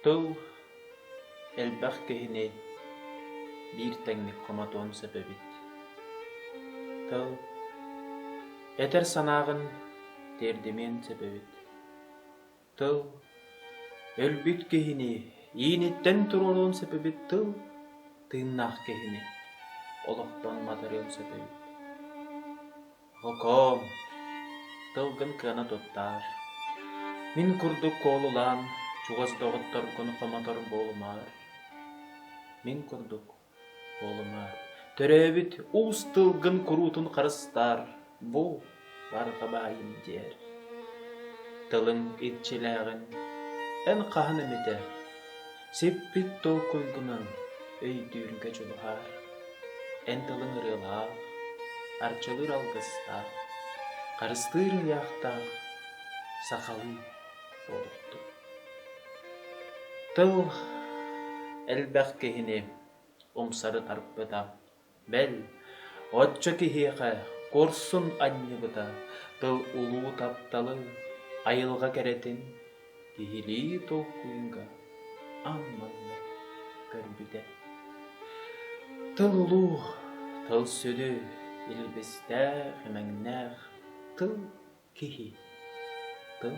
Тыл элбэх киһини биир тэҥник хомотуон сөп эбит. Тыл этэр санааҕын тиэрдимиэн сөп эбит. тыл өлбүт киһини ииниттэн туруоруон сөп эбит тыл тыыннаах киһини олохтон матарыан сөп эбит Окоом, тылгын кыана туттаар. Мин курдук куолулаан, чугас доҕотторгун хомотор буолумаар. Мин курдук Уолума, төрөөбүт уус тылгын куруутун харыстаар, бу барҕа баайым диэр. Тылыҥ иччилээҕин эн хаһан эмитэ сиппит толкуйгунан өйдүүргэ дьулуһаар. Эн тылыҥ ырыалаах, арчылыыр алгыстаах, харыстыыр ыйаахтаах сахалыы буолуохтун. Тыл элбэх киһини умсары тарпыта, бэл, оччо киһиэхэ курсун анньыбыта тыл улуу тапталы, айылҕа кэрэтин киһилии толкуйга аамматта көрбүтэ. Тыл улуу, тыл сүдү, илбистээх, имэҥнээх, тыл киһи, тыл